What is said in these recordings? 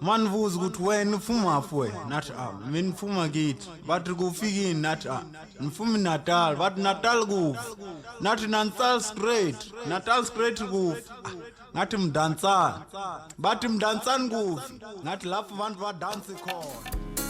manvuza ukuthi wena ufuma fwe nathi a mina ngifuma kithi bathi kufikini nathi a ngifuma natal bathi natal kufi nathi nansal straight natal straight kufi Ah, ngathi mdansani bathi mdansani kufi ngathi lapho abantu badansi khona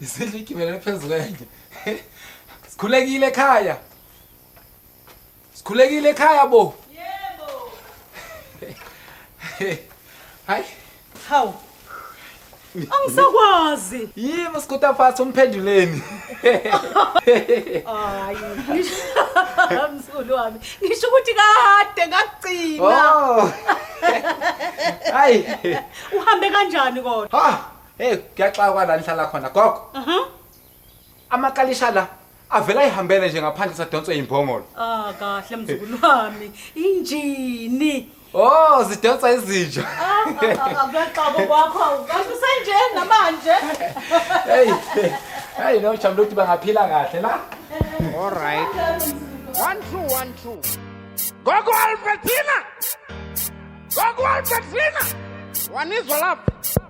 Isidla igibele phezu kwenje. Sikhulekile ekhaya. Sikhulekile ekhaya bo. Yebo. Hayi. Hawu. Angisakwazi. Yimi usikuta phansi umphenduleni. Hayi. Msulu wami. Ngisho ukuthi kade ngagcina. Oh. Hayi. Uhambe kanjani kodwa? Ha. Hey, kuyaxakwa la nihlala khona gogo. Aha. Amakalisha la avela ihambele nje ngaphandle sadonswe imbongolo. Ah kahle mzukulu wami. Injini. Oh, zidonsa izinja. Ah, Akuyaxobo kwakho awukahle usenjeni namanje. Hey. Hey, no chamlo ukuthi bangaphila kahle la. All right. One, two, one, two. Gogo Albertina! Gogo Albertina! Wanizwa lapho.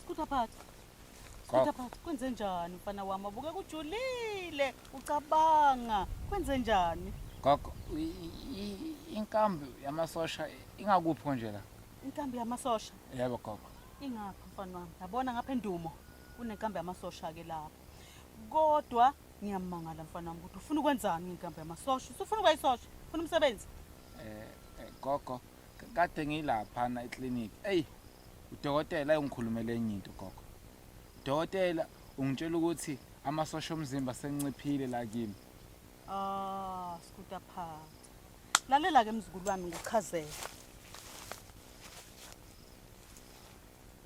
Sikuthaphatha. Sikuthaphatha. Kwenze njani mfana wami? Abuke kujulile. Ucabanga. Kwenze njani? Gogo, inkambi yamasosha ingakuphi nje la? Inkambi yamasosha? Yebo gogo. Ingaphi mfana wami? Yabona ngapha endumo kunenkambi yamasosha ke lapho. Kodwa ngiyamangala mfana wami ukuthi ufuna ukwenzani ngenkambi yamasosha? Usufuna ukuyisosha? Ufuna umsebenzi? Eh, eh gogo, kade ngilaphana eclinic eyi udokotela ayengikhulumela enye into gogo udokotela ungitshela ukuthi amasosha omzimba senciphile la kimi Ah, sikuda phansi. Lalela ke mzukulu wami ngikuchazele.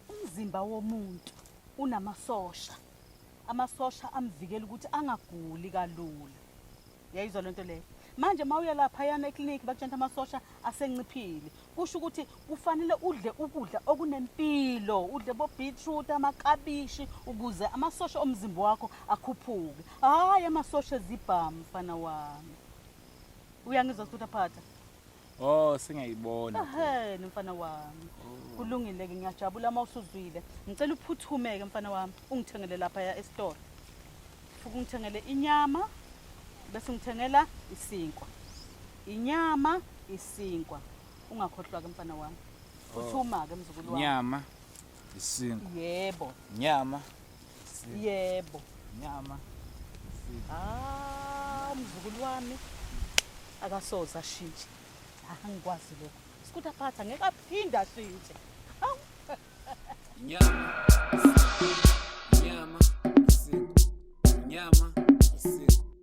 Umzimba womuntu unamasosha. Amasosha amvikela ukuthi angaguli kalula. yayizwa lento leyo manje uma uya laphayana eklinikhi bakutshanta amasosha asenciphile kusho ukuthi kufanele udle ukudla okunempilo udle bobeetroot amakabishi ukuze amasosha omzimba wakho akhuphuke hhayi amasosha ezibhamu mfana wami uyangizwa sithuthi aphatha Oh sengiyayibona. Ehhe nomfana wami. Oh. Kulungile ke ngiyajabula uma usuzwile. Ngicela uphuthumeke mfana wami ungithengele lapha ya esitolo. Fuku ngithengele inyama bese ngithengela isinkwa. Inyama isinkwa. Ungakhohlwa ke mfana wami. Oh. Uthuma ke mzukulu wami. Nyama isinkwa. Yebo. Nyama yebo nyama ah umzukulu wami akasoze ashintshe ah, angikwazi lokho sikuthi aphatha ngeke aphinde ashintshe nyama nyama nyama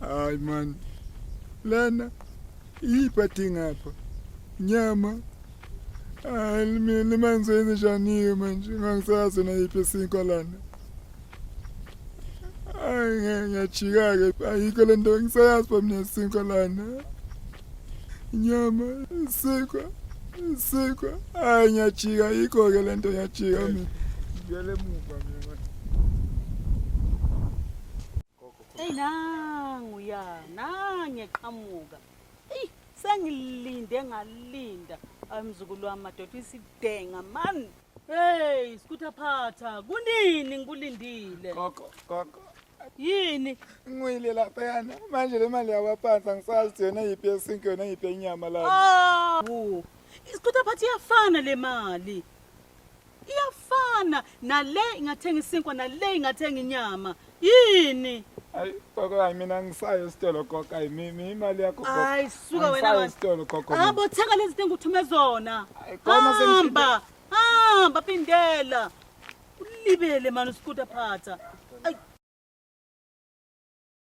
Hayi man. Lana iphathi ngapha. Nyama. Hayi mina manzi wenze njani manje ngangisazi na iphi sinkwa lana. Hayi ngiyajika ke ayikho lento ngisayazi ba mina sinkwa lana. Nyama sinkwa sinkwa hayi ngiyajika ayikho ke lento ngiyajika mina. Ngiyale muva mina. Eyi nangu ya nangiqhamuka eyi sengilinde ngalinda ayi mzukulu wami madoda isidenga mani heyi sikuthaphatha kunini ngikulindile gogo gogo yini ngwile lapha yana manje le mali yakwaphansi angisazi ukuthi yona yiphi yesinke yona yiphi yenyama lapha ah, isikhutha phathi iyafana le mali iyafana nale ingathenga isinkwa nale ingathenga inyama yini Ay gogo ay mina ngisayo sitolo gogo ay mimi imali yakho gogo. Ay suka wena Ngisayo wena. sitolo gogo. mina. habo thenga lezi zinto enguthume zona Ay, khona sengifike- hamba hamba phindela ulibele mani usikuta phatha Ay,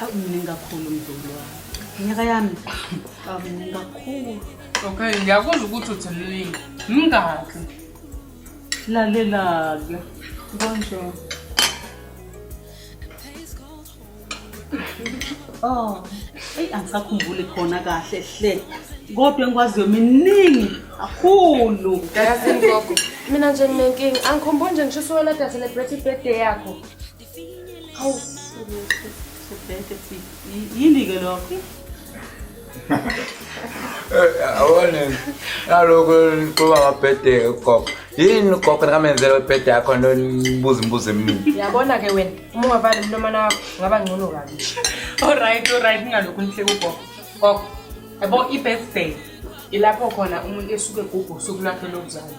Akuningi kakhulu mzulu wami. Nyaka yami. Akuningi kakhulu. Okay, ngiyakuzwa ukuthi uthi mningi. Mingaki? Lalela-ke. Konje. Oh, eyi angisakhumbuli khona kahle hle. Kodwa engikwaziyo miningi kakhulu. Yazi ngogo, mina nje nginenkinga. Angikhumbuli nje ngisho usuwela dase le birthday birthday yakho. yini-ke lokho eh, awone naloko nixuba ngabhede ugogo yini ugogo nikamenzela webhede yakho nto nibuza imibuzo eminingi yabona-ke wena uma ungavali umlomana wakho ngaba ngcono kabi olright olright ningalokhu nihle kugogo gogo yabo i-birthday ilapho khona umuntu esuke gugu usuku lwakhe lokuzalwa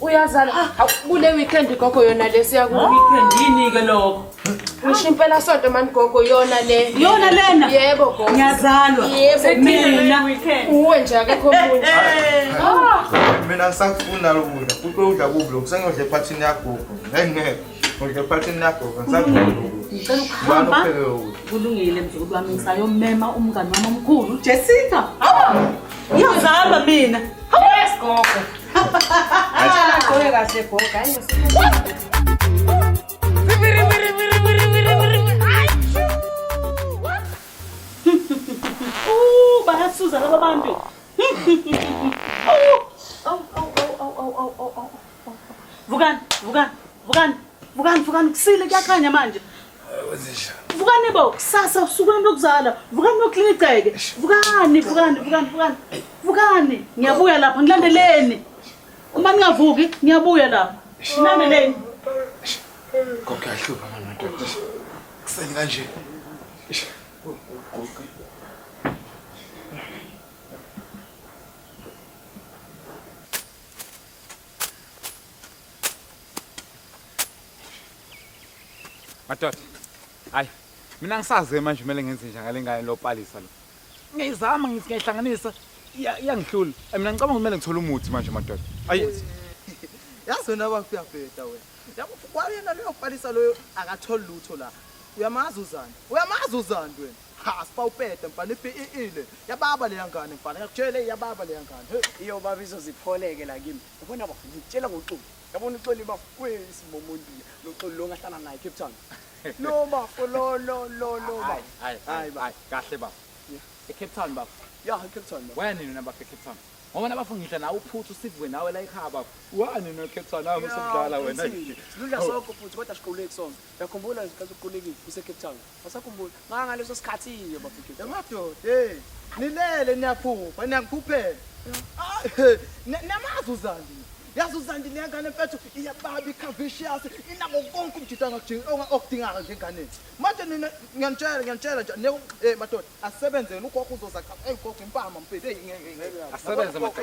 uyazala ah, hawu kule weekend gogo yona le siya ku weekend yini ke lokho ngisho impela sonto mani gogo yona le yona lena yebo gogo ngiyazalwa yebo mina uwe nje akekho omunye ah. mina ngisakufuna lokudla kuqwe udla kubi lokho sengiyodla ephathini yagogo ngeke Ngicela ukuhamba. Kulungile mzukulu wami ngisayomema umngani wami omkhulu uJessica. Hawu! Ngiyazama mina. Hawu esigogo. Ngicela ugqoke kahle gogo. Hayi Uh, bayasuza laba bantu. Vukani, vukani, vukani, vukani, vukani, kusile kuyakhanya manje. Vukani bo, kusasa usukuni lokuzala. Vukani noklini igceke. Vukani, vukani, vukani, vukani. Vukani, ngiyabuya lapha, ngilandeleni. Uma ningavuki, ngiyabuya lapha. Ngilandeleni. Konke ahlupha manje madoda. Kuseni kanje. Madoda. Hayi. Mina ngisaze manje kumele ngenze njani ngale ngane lopalisa lo. Ngiyizama ngithi ngiyihlanganisa iyangihlula. Mina ngicabanga kumele ngithole umuthi manje madoda. Ayi. Yazi wena bafika bheda wena. Yabo kwayena leyo palisa loyo akatholi lutho la. Uyamazi uzani? Uyamazi uzani wena? Ha spa upete mfana ipiile. Yababa leya ngane mfana. Ngakutshela iyababa leya ngane. Hey. Iyo baba izozipholeke la kimi. Yabona bafo ngikutshela ngoxulu. Yabona uxoli bafo uyisimomuntu noxulu lo ngahlala naye Cape Town. Lo bafo lo lo lo lo bafo. Hayi hayi hayi kahle bafo. Yeah. E Cape Town bafo. Yeah, e Cape Town bafo. Wena nina bafo e Cape Town. Ngoba nabafo ngidla nawe uphuthu sivwe nawe la ekhaya bafo. Wani no Cape Town nami usudlala wena. Siludla oh. sonke futhi kodwa siquleki sonke. Yakhumbula ngiqala ukuqulekile kuse Cape Town. Wasakhumbula. Maka ngaleso sikhathi iyo bafike. Yamadoda, hey. Nilele niyaphupha, niyangiphuphela. Namazi uzandi. Yazi uzandi lengane mfethu iyababa ikhavishiyas inako konke umjita ngakudinga okudingaka njenganeni. Manje nina ngiyanitshela ngiyanitshela nje ne eh madoda asebenzele ugogo uzoza cha hey gogo impama mfethu hey ngeke ngeke. Asebenze madoda.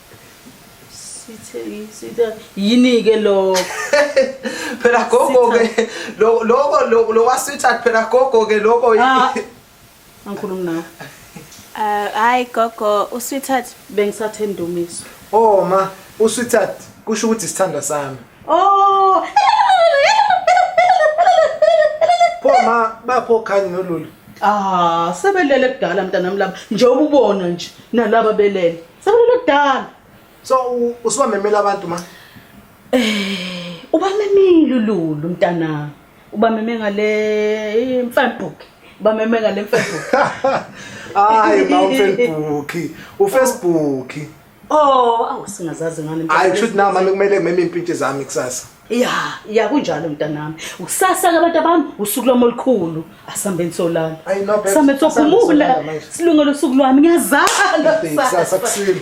yini-ke lokho phela gogo-ke loko lokwasweetheart phela gogo-ke loko ah. angikhulumi nawe eh, hayi gogo usweetheart bengisathe ndumiso o oh, ma usweetheart kusho ukuthi isithandwa sami o oh. pho ma bapho khanye nolulu ah sebelele kudala mntanami laba njengoba ubona nje nalaba belele Sekulele kudala. So u- usubamemela abantu ma. Eh, ubamemile uLulu mntanami. Ubameme ngale mfambook. Ubameme ngale mfambook. Hayi ma uFacebook. UFacebook. Oh, awu singazazi ngani. Hayi kushuthi na mama kumele ngimeme impintshi zami kusasa. ya ya kunjalo mntanami ukusasa-ke abantu abami usuku lwami olukhulu asambe nisolala Ayi, no, babes, sambe asambe sophumula nisolala manje. silungele usuku lwami ngiyazala Kusasa kusile.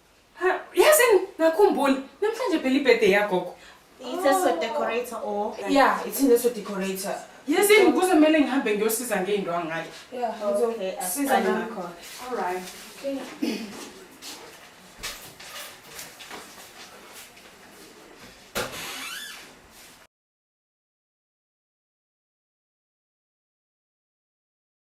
Yazi ngakhumbula namhlanje phela ibirthday yagogo. It's a so decorator or Yeah, it's in a so decorator. Yazi ngikuze kumele ngihambe ngiyosiza ngeinto angayi. Yeah, okay. Siza ngakho. All right. Okay.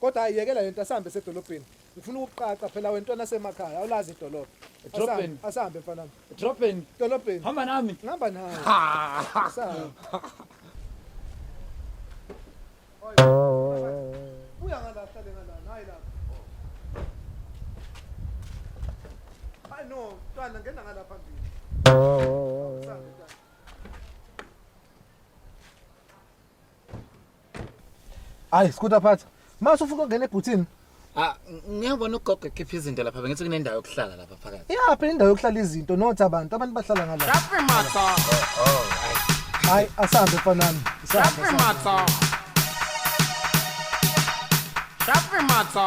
Kodwa ayiyekela lento asambe esedolobheni. Ngifuna ukuqaqa phela wentwana semakhaya awulazi idolobha. Edrobheni. Asambe- Asambe mfana. wami. Edrobheni. Dolobheni. Hamba nami. Ngihamba nawe. Asambe. Buya ngala hlale ngala nayi lapha. Hayi no, mntwana ngena ngala phambili. Asambe mntwana. Hayi skutha phatha. Mase ufuna ukungena ebhuthini. Ah ngiyabona ugogo ekhipha izinto lapha bengithi kunendawo yokuhlala lapha phakathi. Yeah, phela indawo yokuhlala izinto nothi abantu abantu bahlala ngala. Laphi matha. Hayi asambe fanami. Laphi matha. Laphi matha.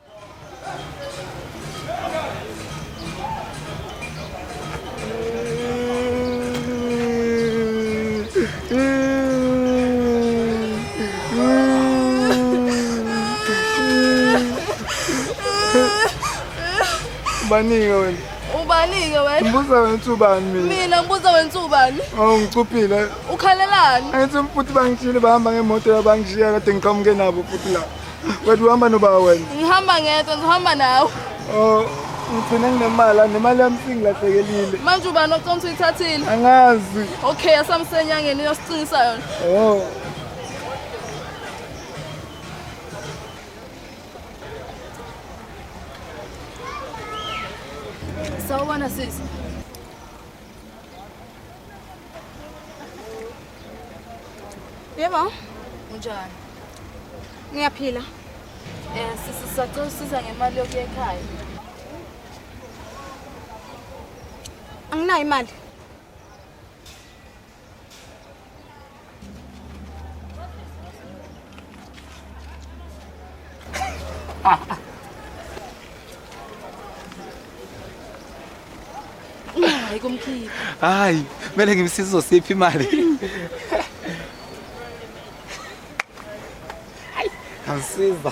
ubanike wena ubanike wena ngibuza wena uthi ubani mina mina ngibuza wena uthi ubani oh ngicuphile ukhalelani angithi futhi bangishile bahamba ngemoto yabangishiyela kade ngiqhamuke nabo futhi la Wena uhamba nobaba wena? Ngihamba ngedwa, ngihamba nawe. Oh, ngigcine nginemali, nemali yami singilahlekelile. Manje ubani oconsa uyithathile? Angazi. Okay, asamsenyangeni uyosicingisa yona. Oh. Sawubona sisi. Yebo. Unjani? Ngiyaphila. Eh sisi sacela usiza ngemali yokuya ekhaya. Anginayo imali. Hayi kumkhipha. Hayi, kumele ngimsize uzosipha imali. Angisiza.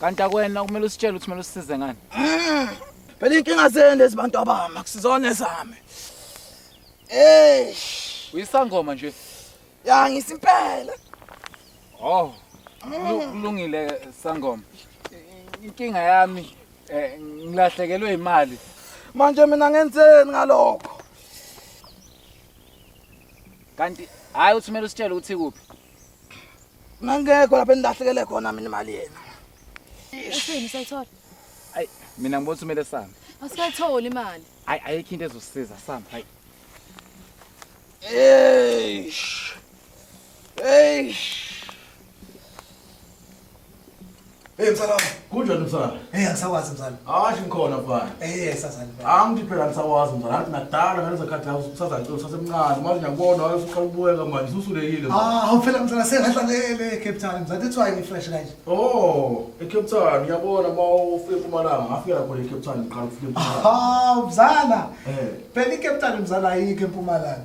kanti akwena kumele usitshele ukuthi kumele usisize ngani mm. phela inkinga zenu lezi bantu abami akusizona ezami eish uyisangoma nje ya ngisimpela oh mm. kulungile sangoma inkinga yami eh, ngilahlekelwe imali manje mina ngenzeni ngalokho kanti hayi uthi kumele usitshele ukuthi kuphi Ngangekho lapha endahlekele khona mina imali yena. Usini sayithola? Ay mina ngibona umele sami. Asikayitholi imali. Ay ayikho into ezosiza sami. Hay. Eish. Eish. Hey msala. Kunjani msala? Hey angisakwazi msala. Hayi ngikhona mfana. Eh sasani mfana. Angithi phela angisakwazi msala. Ngathi nakudala ngalezo khathi la usazantshela usasemncane. Manje ngiyakubona waye usuqala ukubuyeka manje ususulekile. Ah awuphela msala sengadlalele Cape Town. Msala that's why ngifresh kanje. Oh, eCape Town ngiyabona uma ufike eMpumalanga ngafika lapho le Cape Town ngiqala ukufika eMpumalanga. Ah msala. Eh. Phela iCape Town msala ayikho eMpumalanga.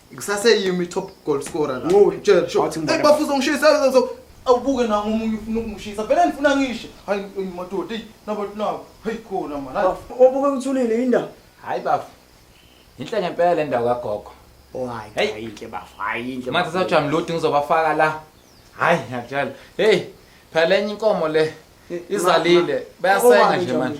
Kusaseyimi top goal scorer la. Ngoba tshela sho. Hey bafuza ngishisa so awubuke na ngomunye ufuna ukungishisa. Vele ngifuna ngisho. Hayi madoda, hey nabantu nabo. Hey khona man. Hayi. Obuke uthulile indawo. Hayi bafu. Inhle ngempela indawo kagogo. Oh hayi. Hayi inhle bafu. Hayi inhle. Manje sawujama lodi ngizobafaka la. Hayi ngiyakutshela. Hey phela enye inkomo le izalile. Bayasenga nje manje.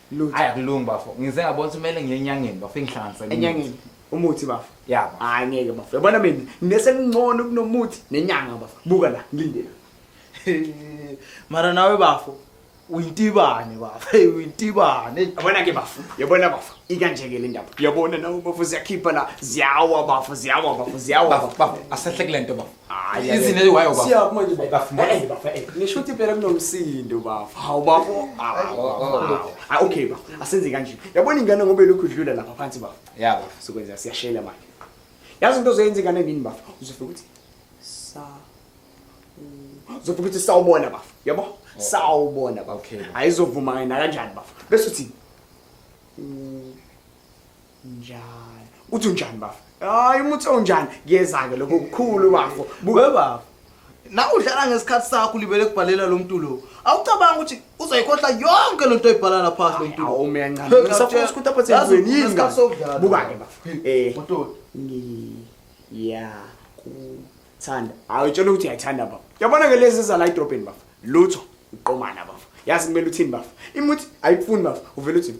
Lutho. Hayi akulungi bafo. Ngize ngabona ukuthi kumele ngiye enyangeni bafo ingihlanganise. nomuthi. Enyangeni. Umuthi bafo. Ya bafo. Hayi ngeke bafo. Yabona mina nginese ngcono kunomuthi nenyanga bafo. Buka la ngilindele. Mara nawe bafo uyintibane bafo. Hey uyintibane. Yabona ke bafo. Yabona bafo. Ikanje ke le ndaba. Yabona nawe bafo ziyakhipha la. Ziyawa bafo, ziyawa bafo, ziyawa Bafo bafo. bafo asahle kule nto bafo. Hayi izine wayo bafo. Siya kuma nje bafo. Eh bafo eh. Ngisho ukuthi phela kunomsindo bafo. Hawu bafo. Ah okay bafo. Asenze kanje. Yabona ingane ngobe lokhu idlula lapha phansi bafo. Yeah bafo. Sokwenza siyashela manje. Yazi into ozoyenza ingane nini bafo? Uzofika ukuthi sa Uzofika ukuthi sawubona bafo. Yabo? Oh. Sawubona bafo. Ayizovuma yena kanjani bafo. Bese uthi njani uthi unjani bafo hayi umuthi onjani kuyeza-ke lokho kukhulu bafo buke bafo na udlala ngesikhathi sakho ulibele kubhalela lo mntu lo awucabanga ukuthi uzoyikhohla yonke le nto oyibhala laphansi lo mntu awu mina ncane ngisafuna ukuthi apha senzweni yini ngesikhathi sokudlala buka-ke bafo eh mototi ngiya kuthanda hayi utshela ukuthi uyayithanda bafo yabona ke lezi zala idrobheni bafo lutho uqomana bafo yazi kumele uthini bafo imuthi ayikufuni bafo uvele uthini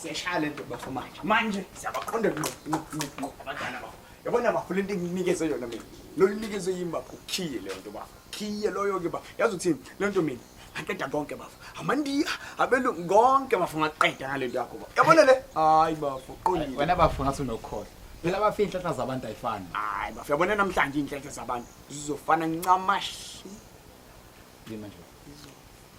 siyashaya le nto bafo manje manje siyabaqonda ngqo ngqo ngqo ngqo abadala bafo yabona bafo le nto enginikeze yona mina lolu nikezwe yimi bafo ukhiye leyo nto bafo khiye loyo-ke bafo yazi uthini le nto mina ngaqeda konke bafo amandiya abelungu konke bafo ngaqeda ngale nto yakho bafo yabona le hayi bafo qondile wena bafo ngathi unokukhohlwa phela bafo iy'nhlanhla zabantu ayifani hayi bafo yabona namhlanje iy'nhlanhla zabantu zizofana ncamashi yini manje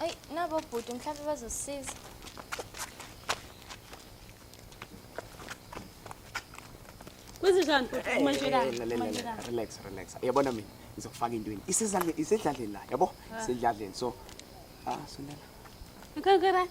Ayi nabo bhuti mhlawumbe bazosisiza. Kwenzenjani bhuti uma nje la? Uma nje la. relax relax yabona mina ngizokufaka intweni isedlaleni isedlaleni la yabo isedlaleni so ah sondela Ngeke right.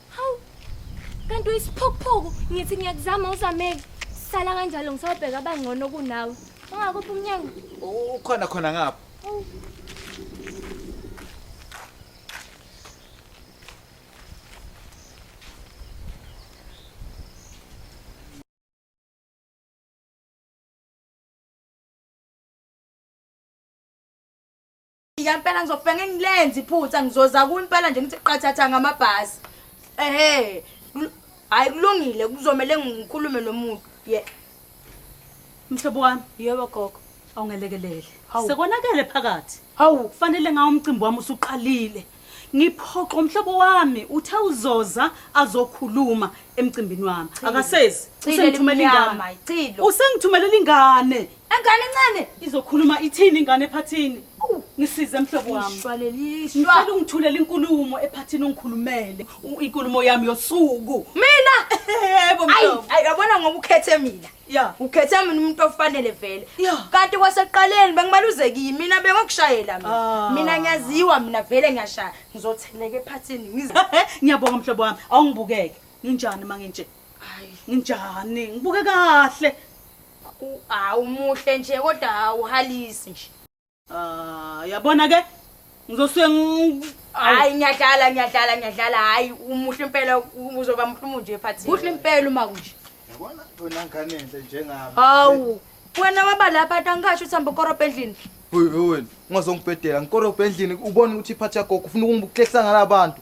Hawu. Kanti uyisiphokuphoku ngithi ngiyakuzama uzameke. Sala kanjalo ngisawubheka abangcono kunawe. Ungakuphi umnyango? Ukhona khona ngapha. Hawu. Ngiyafika impela ngizofika ngilenze iphutha ngizoza ku impela nje ngithi qathatha ngamabhasi. Ehhe. Hayi kulungile kuzomela ngikhulume nomuntu. Ye. Mhlobo wami. Yebo gogo. Awungelekelele. Sekonakele phakathi. Hawu kufanele ngawo umcimbi wami usuqalile. ngiphoxo mhlobo wami uthe uzoza azokhuluma emcimbini wami akasezi usengithumelela ingane icilo usengithumelela ingane engane encane izokhuluma ithini ingane ephathini ngisize mhlobo wami ngicela ungithulela inkulumo ephathini ungikhulumele inkulumo yami yosuku mina yebo mhlobo ayabona ngoba ukhethe mina ya ukhethe mina umuntu ofanele vele Ya. kanti kwasekuqaleni bengibaluzekile mina bengokushayela mina Ah. mina ngiyaziwa mina vele ngiyashaya ngizotheleka ephathini ngize ngiyabonga mhlobo wami awungibukeke nginjani uma nginje Hayi. nginjani ngibuke kahle U- hawu muhle nje kodwa awuhalisi nje Ah, yabona ke ngizosuke hayi ngiyadlala ngiyadlala ngiyadlala hayi umuhle impela uzoba mhlumu nje phathi kuhle impela uma kunje yabona wena ngane enhle njengami hawu wena waba lapha tangasho uthamba korobha endlini Hoyi wena ungazongibhedela ngikorobha endlini ubone ukuthi iphathi yakho ufuna ukungibuklehla ngalabantu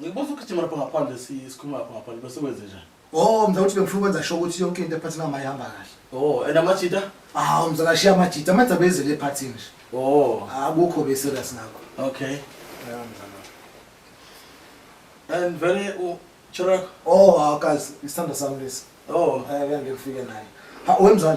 Ngikubuza ukugijima lapho ngaphandle si- sikhuluma lapho ngaphandle bese kwenze njani? Oh, mzala ukuthi bengifuna ukwenza sure ukuthi yonke into ephathini yami ayihamba kahle. Oh, and amajita? Hawu mzala shiya amajita, amanzi abezele ephathini nje. Oh, Akukho be serious ngakho. okay. Ya mzala. And vele u Chirako? Oh, hawu kazi, isithanda sami lesi. Oh, Eh, ngeke ngifike naye. Ha, wemzala.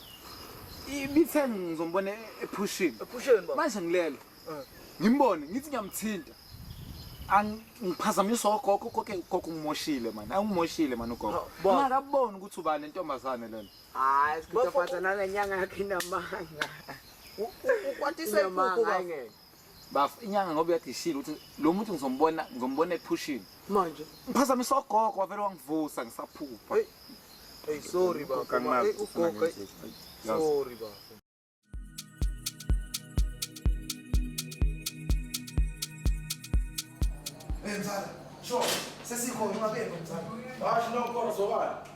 ibithe ngizombona ephushini Ephusheni baba. manje ngilele Eh. ngimbone ngithi ngiyamthinta Ang- ngiphazamiswa ogogo koke ugogo ungimoshile mani angimoshile mani ugogo Ha, baba. ungakaboni ukuthi ubani lentombazane lena hayi Bafo- sikutaphatha nalenyanga yakhe inamanga Ukwatiswa Inamanga, inkukhu baba. ayingeke. baf inyanga ngoba uyadishile ukuthi lo muntu ngizombona ngizombona ephushini manje ngiphazamisa ogogo wavele wangivusa ngisaphupha hey hey sorry bafo hey ugogo sorry bafo Benzala, sure, sesikhona ungabe benzala. Hayi no kodwa sobani.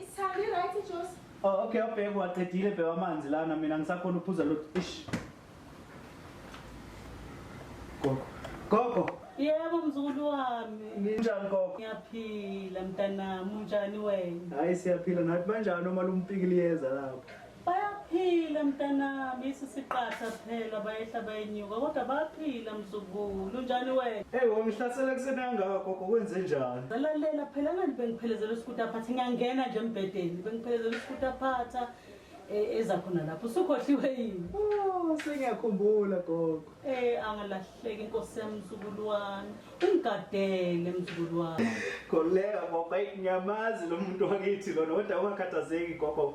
Isithandi right ijuice. Oh okay ubheke waqedile bheka amanzi lana mina ngisakhona uphuza lo ish. Gogo. Gogo. Yebo mzukulu wami. Ninjani gogo? Ngiyaphila mntanami, unjani wena? Hayi siyaphila nathi banjani uma lumpiki liyeza lapho. Bayaphila mntanami, isi siqatha kuphela bayehla bayenyuka kodwa bayaphila mzukulu. Unjani wena? Hey wamhlasela kuseni kangaka gogo kwenze njani? Ngalalela phela ngani bengiphelezela usikuti aphatha ngiyangena nje embhedeni bengiphelezela usikuti aphatha eh, eza khona lapho usukhohliwe yini? Oh, sengiyakhumbula gogo. Eh angalahleki inkosi yami mzukulu wami. Ungigadele mzukulu wami. Khuleka gogo, ayi ngiyamazi lo muntu wakithi lona kodwa ungakhathazeki gogo.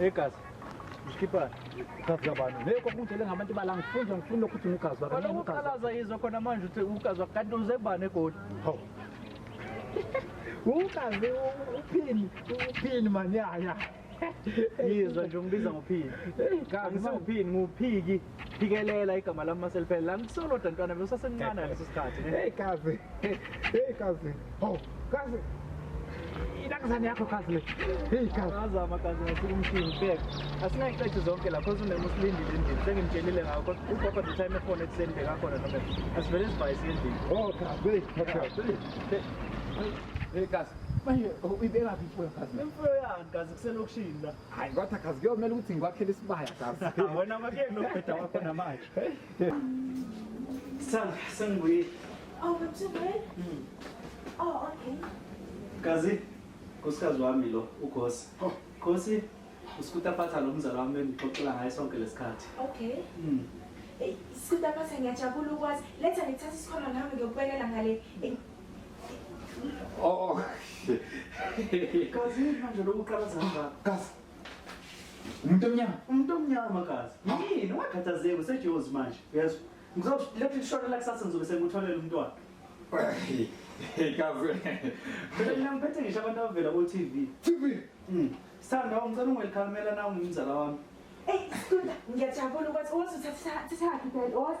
egazi mshiphana ugazi abantu leyo kwakunje lengabantu bala ngifunda ngifuna lokhu uthi ugazi wakho kaloku ukhalaza yizwa khona manje uthi ugazi wakho kanti uzebani egoli ho ugazi uphini uphini mani ya ya yizwa nje umbiza ngophiki kangisenguphiki nguphiki phikelela igama lami maseliphele la ngisoloda ntwana besasemncane ngaleso sikhathi hey kazi hey kazi ho kazi inakazane yakho kazi le hey kazi azama kazi ngasuka umshini bek asingayixethi zonke lapho usunema usilindile endlini sengimtshelile ngakho ugogo the time ekhona ekuseni bekakhona noma asivele sivayise endlini oh kazi hey kazi manje uyibeka phi imfuyo kazi imfuyo yani kazi kuselokishini la hayi kodwa kazi kuyomele ukuthi ngikwakhele isibaya kazi wena kwakuyeni nobheda wakho namanje sanga sengibuyile oh bethubele hmm. oh okay kazi nkosikazi wami lo ugosi oh. gosi usikuta phatha lo mzala wami bengixoxela ngaye sonke lesikhathi okay mm. Hey, sikuta phatha ngiyajabula ukwazi letha ngithatha isikhona nami ngiyokubekela ngale Oh. Kazi manje lo uqala zangaka. Kazi. Umuntu omnyama. Umuntu omnyama kazi. Yini ungakhathazeki usejozi manje. Uyazi. Ngizolokhu ngishona la kusasa ngizobe sengikutholela umntwana. Hey kazi. Phela mina ngiphethe ngisho abantu abavela ku TV. TV. Mm. Sithanda ungicela ungelikhangela nawe ngumzala wami. Eyi, Situla, ngiyajabula ukuthi wazi uthatha thatha phela wazi.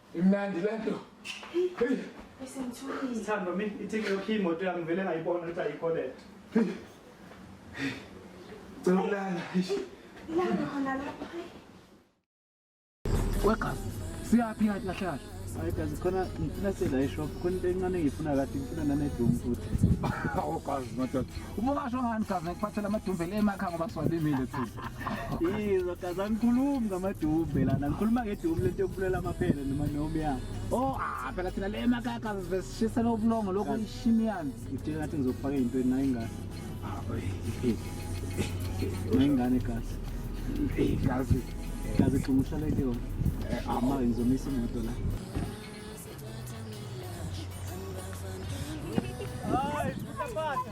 Imnandi lento. Hey. Isimthulile. Sithando mi ithike yokhi imoto yami vele ngayibona ukuthi ayikho lento. Cela ukulala. Ilanga khona lapha. Weka. Siyaphi ngathi kahle kahle. Hayi kazi khona ngifuna sela eshop khona into encane ngifuna kathi ngifuna nanedum futhi. Awu kazi madoda. Uma kasho ngani kazi ngikuphathela amadumbe le emakha ngoba siwalimile futhi. Yizo kaza ngikhulumi ngamadumbe lana ngikhuluma ngedumbe lento yokubulela amaphele noma noma ya. Oh ah phela thina le makaka besishisa lobulongo lokho ishimiyani. Ngithe ngathi ngizokufaka into nayo ingane. Ah oyi. Nayingane kahle. Hey kazi. Kazi xumushale ke yona. Eh, ama ngizomisa imoto la. Ai, puta pata.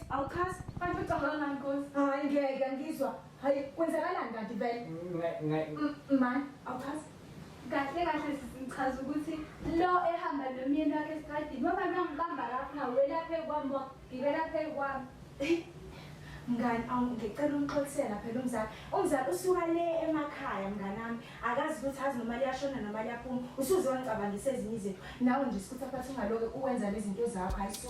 Awuchazi, kanti ucabanga ngani Nkosi? Hayi ngeke angizwa. Hayi kwenzakalani kanti vele? Mani, awuchazi. Kahle kahle sichaza ukuthi lo ehamba nomyeni wakhe esikadini mama nangibamba lapho ngawela phezu kwami wagibela phezu kwami. Mngani, awu ngicela umxolisela phela umzali. Umzali usuka le emakhaya mnganami. Akazi ukuthi azi noma liyashona noma liyaphuma. Usuze wangicabangisa ezinye izinto. Nawe nje sikuthi aphathi ungaloke uwenza nezinto zakho hayi so.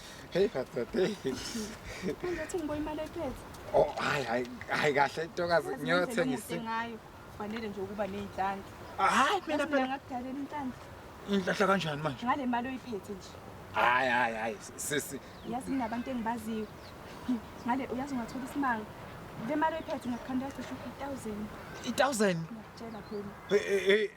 Hey madoda. Hey. Manje uthi ngiboya imali ephethe. Oh hayi hayi hayi kahle ntokazi ngiyothengisa. Ngayo. Fanele nje ukuba nezinhlanhla. Hayi mina phela ngakudalela inhlanhla. Inhlahla kanjani manje? Ngale mali oyiphethe nje. Hayi hayi hayi sisi. Yazi ninabantu engibaziyo. Ngale uyazi ungathola isimanga. Le mali oyiphethe ngakukhandela cishe 1000. 1000? Ngiyakutshela phela. Eh eh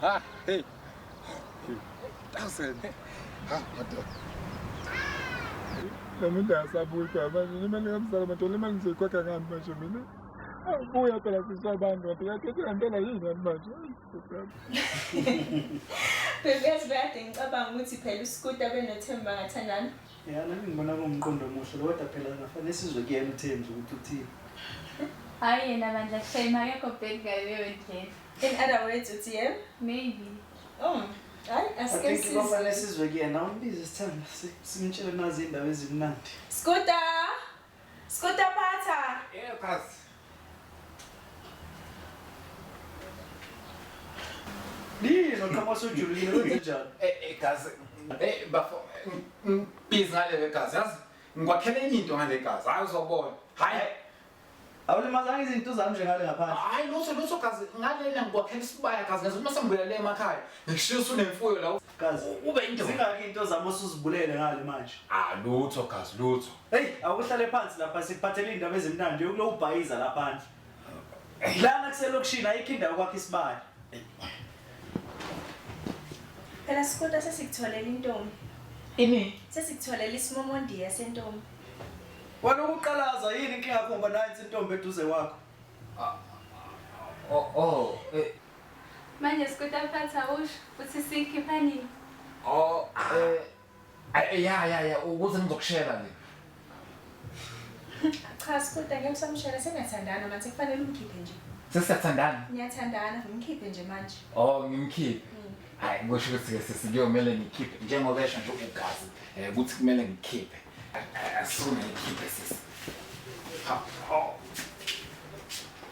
Ha, hey. Thousand. Ha, madoda. Nami ndasabuyi kwa manje imali kamzala madoda imali ngizoyikhokha ngani manje mina? Awubuya phela sisi wabantu madoda yakhethe ngantela yini ngani manje? Baby yazi bekade ngicabanga ukuthi phela uSkuta benothemba ngathandana. Ya nami ngibona kuwumqondo omuhle lo kodwa phela ngafanele sizwe kuyena utheni nje ukuthi uthini. Hayi yena bandla shame akekho bad guy leyo ndlela. In other words uthi yena? Maybe. Oh. Hayi I asike think sisi. kwafanele sizwe kuyena umbize sithanda si- simtshele nazi indaba ezimnandi. Scooter! Skuta phatha. Yeah, cuz. Nini noqhama sujulile kwenze njani? Eh eh cuz. Eh bafo. Biz ngale le cuz. Yazi ngikwakhela enye into ngale cuz. Hayi uzobona. Hayi. Awulimazanga izinto zami nje ngale ngaphandle. Hayi lutho lutho cuz ngalena ngikwakhela isibaya cuz ngizuma sengibuya le emakhaya. Ngishiya usunemfuyo la. Gazi. Ube indoda. Zingaki into zami osuzibulele ngale manje? Ah lutho gazi lutho. Hey, awuhlale phansi lapha sikuphathele indaba ezimnandi yokulobhayiza lapha phandle. Lana kuselokishini ayikho indawo kwakhe isibali. Phela sikuta sesikutholela intombi. Ini? Sesikutholela isimomondiya sentombi. Wena ukuqalaza yini inkinga yakho ngoba nansi intombi eduze kwakho? Oh, oh, eh, Manje sikutaphatha awusho ukuthi siyikhipha nini? Oh, eh, ay- ya ya ya ukuze ngizokushela nje. Cha sikuda ngeke usamshela seniyathandana manje kufanele umkhiphe nje. Sesiyathandana. Niyathandana ngimkhiphe nje manje. Oh, ngimkhiphe. Hayi kusho ukuthi ke sisi kuyomele ngikhiphe njengoba esho nje ugazi eh, ukuthi kumele ngikhiphe. Asifune ngikhiphe sisi. Ha, oh.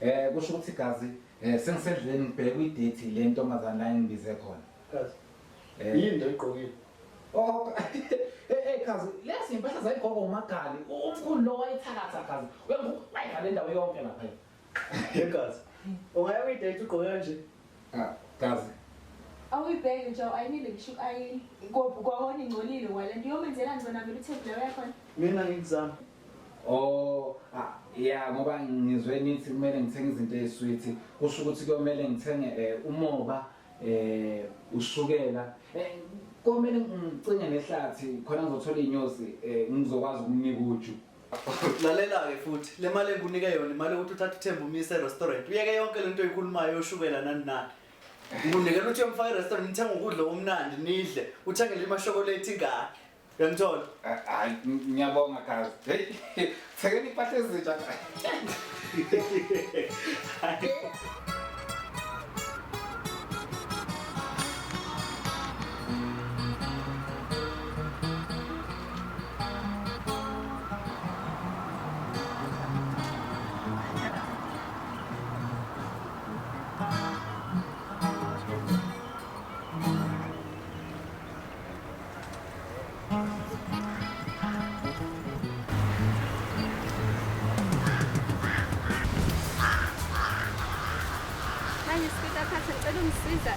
Eh kusho ukuthi gazi eh sengisendleleni ngibheke kwi-date le ntombazane la engibize khona. Gazi. Eh yini into egqokile? Oh eh gazi eh, lezi impahla zayigqoka umagali umkhulu lo wayithakatha gazi. Wayivale indawo yonke lapha. Hey gazi. Ungaya kwi-date ugqoke kanje? Ah gazi. Awuyibheki nje ayinile ngisho ayini. Kwahona ingcolile wale. Ngiyomenzela ngcona vele uthebula yakhona. Mina ngikuzama. Oh, ah, yeah ngoba ngizwe nithi kumele ngithenge izinto ezisweet. Kusho ukuthi kuyomele ngithenge eh, umoba eh ushukela. Eh komele ngicinge nehlathi khona ngizothola inyosi eh ngizokwazi ukunika uju. Lalela-ke futhi le mali engikunike yona imali yokuthi uthathe uthemba umise e-restaurant uyeke yonke le nto oyikhulumayo yoshukela nani nani ngikunikela ukuthi uyomfaka e-restaurant nithenge ukudla okumnandi nidle uthengele imashokolate ingane Uyangithola? Hayi ngiyabonga kazi. Hey, thekeni impahla ezintsha. Manje sifika phansi ngicela ungisiza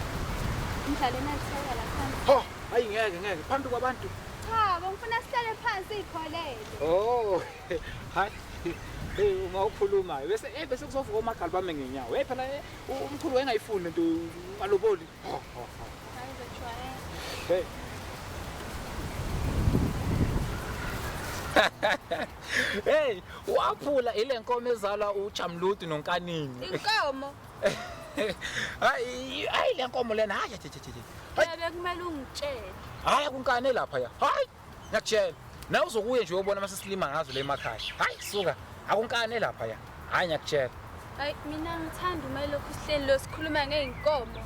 ngidlale natheka la phansi. Ho, hayi ngeke ngeke phambi kwabantu. Cha, bengifuna sihlale phansi ikholele. Oh. Hayi. Hey uma ukhulumayo bese eh bese kuzovuka omagali bami ngenyawo. Hey phela eh, u- umkhulu wayengayifuni lento aloboli. hey waphula ile nkomo ezalwa uJamludu nonkanini inkomo hayi hayi le nkomo lena hayi hayi bekumele ungitshele hayi kunkane lapha ya hayi ngiyakutshela nawe uzokuye nje uyobona uma sesilima ngazo le emakhaya hayi suka akunkane lapha ya hayi ngiyakutshela hayi mina ngithanda uma lokhu sihleli lo sikhuluma ngey'nkomo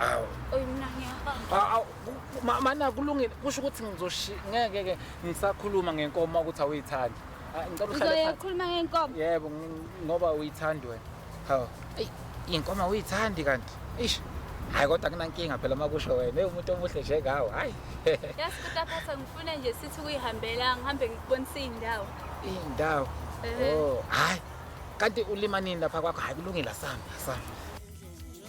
awu oyi mina ngiyahamba Aw- aw, ku- ma- mana kulungile kusho ukuthi ngizoshi ngeke ke ngisakhuluma ngenkomo ukuthi awuyithandi Ah, ngicela uhlale uzoye phansi. ukhuluma ngey'nkomo yebo ng- ngoba uyithandi wena Hawu. Ey, inkomo uyithandi kanti. Eish. Hayi kodwa kunankinga phela makusho wena. Ey umuntu omuhle nje ngawo. Hayi. Yes, kutaphatha ngifuna nje sithi kuyihambela ngihambe ngikubonisa indawo. Indawo. Oh, hayi. Kanti ulima nini lapha kwakho? Hayi kulungile asami, asami.